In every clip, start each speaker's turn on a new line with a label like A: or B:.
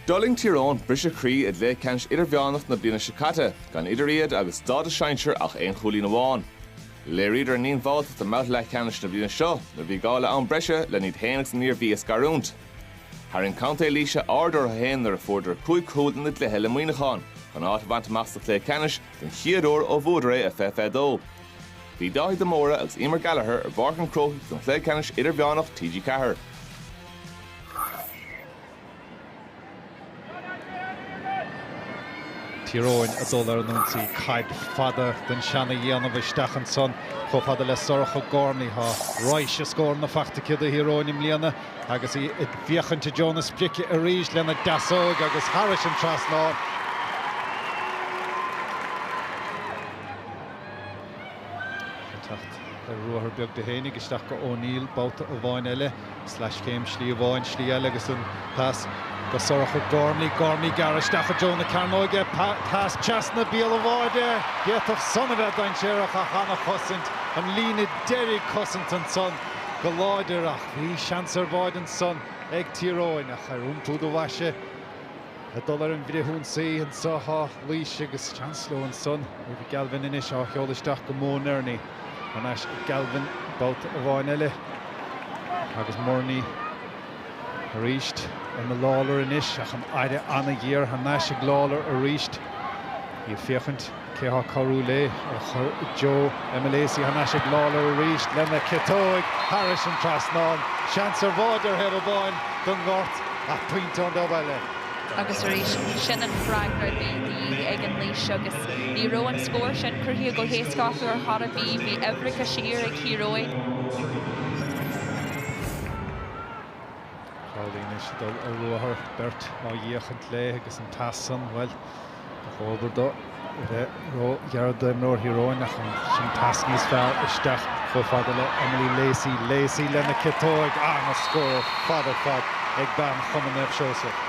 A: D'fhulaing Tír Eoghain briseadh croí i gcluiche ceannais idirmheánach na bliana seo caite, gan idir iad agus stádas sinsir ach aon chúilín amháin. Léiríodar a ndíonbháltacht i mbabhta leathcheannais na bliana seo nuair a bhí gá le am breise len iad féin agus an Iarmhí a scarúint. Tharraing Contae Laoise aird orthu féin nuair a fuaireadar cúig chúl ina gcluiche le Muineachán chun áit a bhaint amach sa chluiche ceannais den chéad uair ó bhuadar é i 2022. Bhí Dáithí de Mórdha agus Emer Gallagher ar Pháirc an Chrócaigh don chluiche ceannais idirmheánach TG4. Tír Eoghain ag dul ar an ionsaí. Caid fada den seana-dhéanamh isteach ansan chomh fada le Sorcha Gormley. Tá raidhse scóranna faighte aici do Thír Eoghain i mbliana agus í ag féachaint i dtreo na sprice arís lena deasóig agus thairis an trasnán. Ag teacht ar ruathar beag di féinig isteach go O'Neill babhta amháin eile. Sleaschéim, slí amháin, slí eile agus an pas go Sorcha Gormley, Gormley gearradh isteach i dtreo na cearnóige, pas trasna bhéal an bháide. D'fhéadfadh san a bheith dainséarach ach an-chosaint, an líne deiridh, cosaint ansan go láidir ach bhí seans ar bháide ansan ag Tír Eoghain ach ar iompú do bhoise, Ag dul ar an bhfrithionsaí anso tá Laois agus seans leo ansan. Eva Galvin anois á sheoladh isteach go Mo Nerney. Thar n-ais ag Galvin babhta amháin eile agus Nerney arís. Emma Lawlor anois ach an aire an-ghéar thar n-ais ag Lawlor arís. Í ag féachaint. Cé thá cabhrú lé? Á chur i dtreo Emily Lacey thar n-ais ag Lawlor arís lena ciotóig thairis an trasnán. Seans ar bháide ar thaobh amáin don ngort, ach pointe ón dtaobh eile. Agus arís, sin an freagra bhí de dhíth ag an Laois agus ní raibh an scór sin cruthaithe go héasca acu ar chor ar bith. Bhí uimhreacha siar ag Tír Eoghain. Crowley anois ag dul ar ruathar, beirt ag féachaint lé agus an pas san, bhuel, Ba dhóbair dó a bheith róghearr d'imreoir Thír Eoghain ach ansin pas níos fearr isteach chomh fada le Emily Lacey. Lacey lena ciotóig, an-scór ar fad ar fad ag bean Chumann Naomh Seosamh.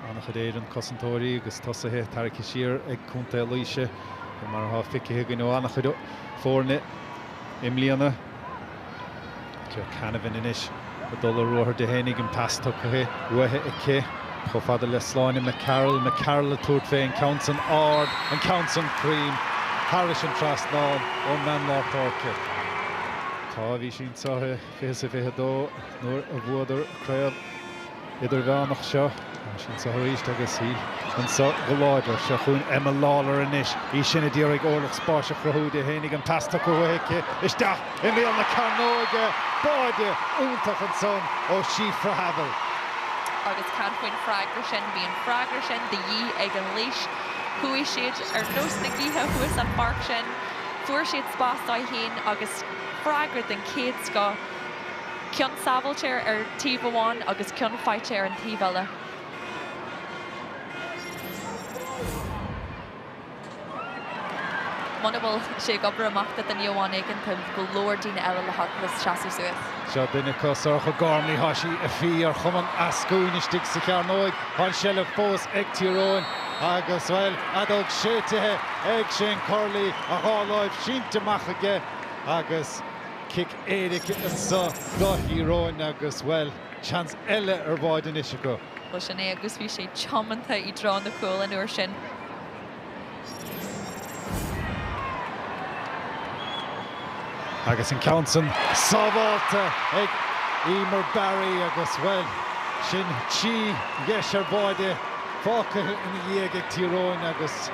A: An-chuid idir chosantóirí agus tosaithe tarraigthe siar ag Contae Laoise, fé mar atá feicthe againn ó an-chuid foirne i mbliana. Claire Canavan anois ag dul ar ruathar di féinig an pas tugtha uaithi aici. Chomh fada le Sláine McCarroll, McCarroll ag tabhairt fé an ceann san ard, an ceann san cruinn, thairis an trasnán ón mbean lár páirce. Tá, bhí sí anso i 2022 nuair a bhuadar craobh idirmheánach seo. Ansin seo arís agus í anseo go láidir. Seo chugainn Emma Lawlor anois, í sin a d'iarraidh orlach spáis a chruthú di féin ach an pas tugtha uaithi aici isteach i mbéal na cearnóige. Báide iontach ansan ó Shifra Havill. Agus cad faoin freagra sin? Bhí an freagra sin de dhíth ag an Laois. Chuaigh siad ar nós na gaoithe thuas an pháirc sin. Fuair siad spás dóibh féin agus freagra den chéad scoth. Ceann sábháilte ar taobh amháin agus ceann faighte ar an taobh eile. Muna bhfuil sé ag obair amach do dhuine amháin éigin, tá go leor daoine eile le haghaidh le seasamh suas. Seo duine acu, Sorcha Gormley. Tá sí ag fí ar chuma an eascúin istigh sa chearnóig. Tá an seilbh fós ag Tír Eoghain agus, bhuel, an fheadóg séidtithe ag Shane Curley, a dhá láimh sínte amach aige agus cic éirice anso do Thír Eoghain agus, bhuel, seans eile ar bháide anois acu. Bhuel, sin é agus bhí sé tiomanta i dtreo na cúil an uair sin. Agus an ceann san sábháilte ag Eimear Barry agus, bhuel, sin trí dheis ar bháide fágtha ina ndiaidh ag Tír Eoghain agus,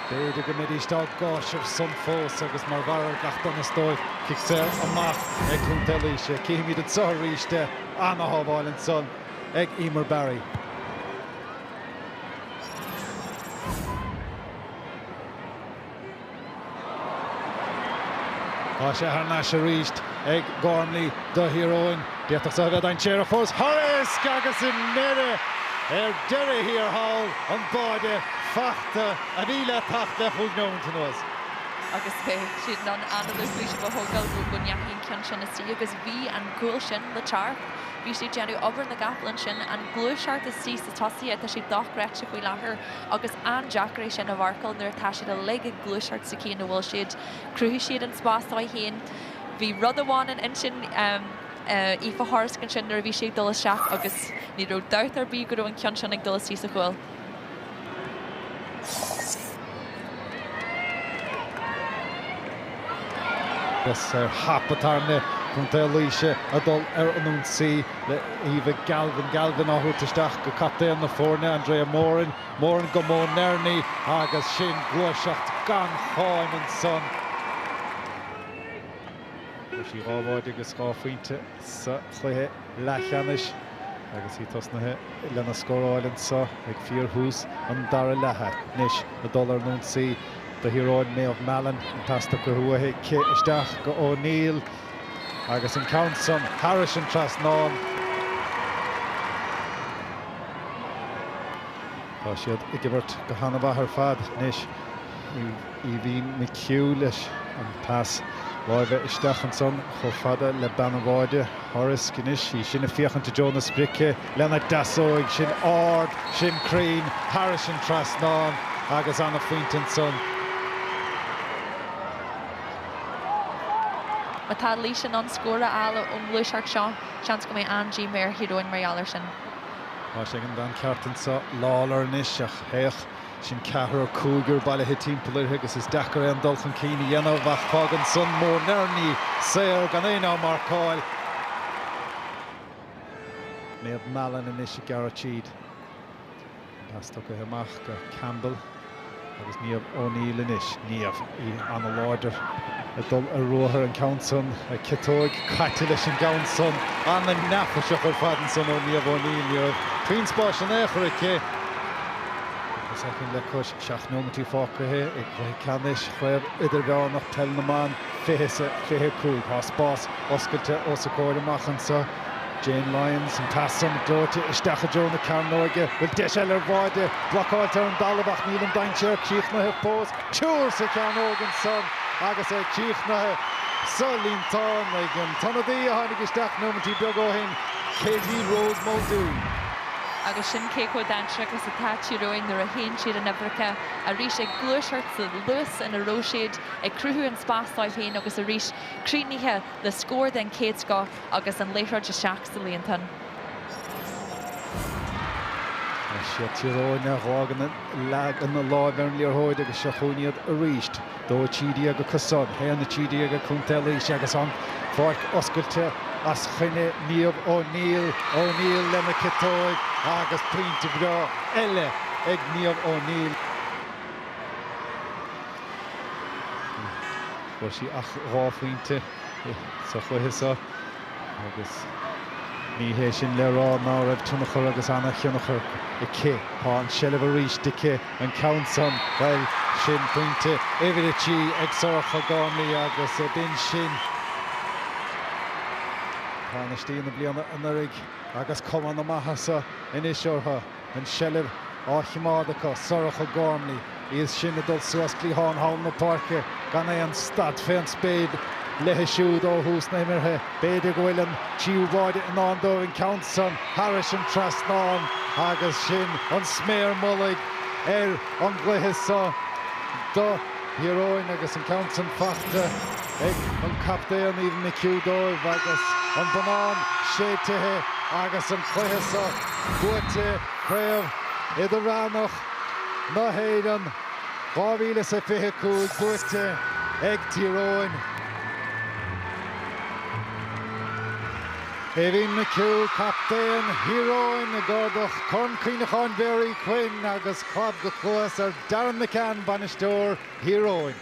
A: B'fhéidir go mbeidís dá gcáis ar son fós agus mar bharr ar gach donas dóibh, Cic saor amach ag Contae Laoise. Cífimid anseo arís é. An-shábháil ansan ag Eimear Barry. Tá sé thar n-ais arís ag Gormley do Thír Eoghain. D'fhéadfadh seo a bheith dainséarach fós Horisk agus i ndeireadh ar deireadh thiar thall an báide fachta a bhí le theacht le cúig neomint anuas. agus beidh siad in ann anáil faoisimh a thógáil go go ndeachaigh an ceann sin istigh agus bhí an cúl sin le teacht. Bhí sé ag déanamh obair na gcapall ansin. An gluaiseacht istigh sa tosaithe, tá sé dochreidte faoi láthair agus an-deacair é sin a mharcáil nuair atá siad uilig ag gluaiseacht sa chaoi ina bhfuil siad. Chruthaigh siad an spás dóibh féin. Bhí rud amháin in intinn Aoife Horisk ansin nuair a bhí sí ag dul isteach agus ní raibh dabht ar bith go raibh an ceann sin ag dul istigh sa chúl. Is ar hap atá ar nith Chontae Laoise a dhul ar an ionsaí le Eva Galvin. Galvin á thabhairt isteach go captaen na foirne, Andrea Moran. Moran go Mo Nerney agus sin gluaiseacht gan cháim ansan. Fuair sí dhá bháide agus dhá phointe sa chluiche leathcheannais agus í tosnaithe lena scóráil anseo ag fíorthús an dara leatha. Anois a dul ar an ionsaí do Thír Eoghain, Méabh Mallon an pas tugtha uaithi, aici isteach go O'Neill agus an ceann san thairis an trasnán. Tá siad ag imirt go han-mhaith ar fad anois. Aoibhinn McHugh leis an pas láimhe isteach ansan chomh fada le bean an bháide. Horisk anois í sin ag féachaint i dtreo na sprice lena deasóig sin ard, sin cruinn, thairis an trasnán agus an-phointe ansan. Má tá Laois in ann scór a fháil ón ngluaiseacht seo, seans go mbeidh an-díomá ar Thír Eoghain mar gheall air sin. Tá sé ag an bhean ceart anso, Lawlor anois, ach, féach, Sin ceathrar, cúigear bailithe timpeall uirthi agus is deacair aon dul chun cinn a dhéanamh ach fágann san Mo Nerney saor gan éinne á marcáil. Méabh Mallon anois ag gearradh tríd. An pas tugtha amach go Campbell agus Niamh O'Neill anois. Niamh, í an-láidir ag dul ar ruathar, an ceann san ag ciotóig, caite leis an gceann san. An-neafaiseach ar fad ansan ó Niamh O'Neill. Ní raibh puinn spáis in aon chor aici. Cúpla soicind le cois seacht nóimintí fágtha i gcluiche ceannais Chraobh Idirmheánach Peil na mBan, 2025. Tá spás oscailte os a comhair amach anseo. Jayne Lyons, an pas san gleoite isteach i dtreo na cearnóige. Bhuel deis eile ar bháide. Blocáilte ar an dtalamh ach níl an dainséar críochnaithe fós. Triúr sa chearnóg ansan agus é críochnaithe sa líontán ag an t-ionadaí a tháinig isteach nóimintí beaga ó shin, Katie Rose Muldoon. agus sin cé chomh dainséarach is atá Tír Eoghain nuair a théann siad in uimhreacha, arís ag gluaiseacht sa luas ina raibh siad, ag cruthú an spás dóibh féin agus arís críochnaithe le scór den chéad scoth agus an liathróid isteach sa líontán. Is iad Tír Eoghain a leagann a lámha ar an liathróid agus seo chugainn iad arís. Dó a trí déag acusan, a haon a trí déag ag Contae Laoise agus an pháirc oscailte os coinne Niamh O'Neill, O'Neill lena ciotóg agus pointe breá eile ag Niamh O'Neill. Fuair sí ach dhá phointe sa chluiche seo. agus ní hé sin le rá ná raibh tionchar agus an-tionchar aici. Tá an tseilbh aríst aici, an ceann san, bhuel, sin pointe uimhir a trí ag Sorcha Gormley agus b'in sin tánaistí na bliana anuiridh agus cuma na maitheasa anois orthu. an tseilbh á chimeád acu, Sorcha Gormley, í is sine, ag dul suas cliathán thall na páirce gan aon stad fén spéir léithi siúd ó thús na himeartha. B'fhéidir go bhfuil an tríú báide i ndán dóibh, an ceann san thairis an trasnán, agus sin an sméar mhullaigh ar an gcluiche so do Thír Eoghain agus an ceann san fachta. ag an gcaptaen Aoibhinn McHugh dóibh agus an bonnán séidtithe agus an cluiche seo buaite, Craobh Idirmheánach na hÉireann 2025 buaite ag Tír Eoghain. Aoibhinn McHugh, captaen Thír Eoghain, ag ardach Corn Cuimhneacháin Mhary Quinn agus clab go cluas ar Darren McCann, bainisteoir Thír Eoghain.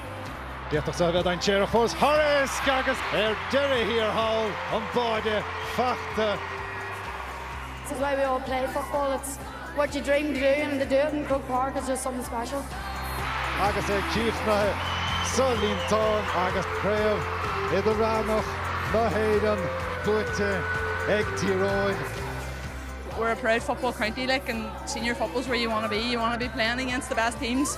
A: D'fhéadfadh seo a bheith dainséarach fós, Horisk agus ar deireadh thiar thall, an báide fachta. This is why we all play football, it's what you dream to do and to do it in Croke Park is just something special. Agus é críochnaithe sa líontán agus Craobh Idirmheánach na hÉireann buaite ag Tír Eoghain, we're a proud football county like and senior football's where you want to be, you want to be playing against the best teams.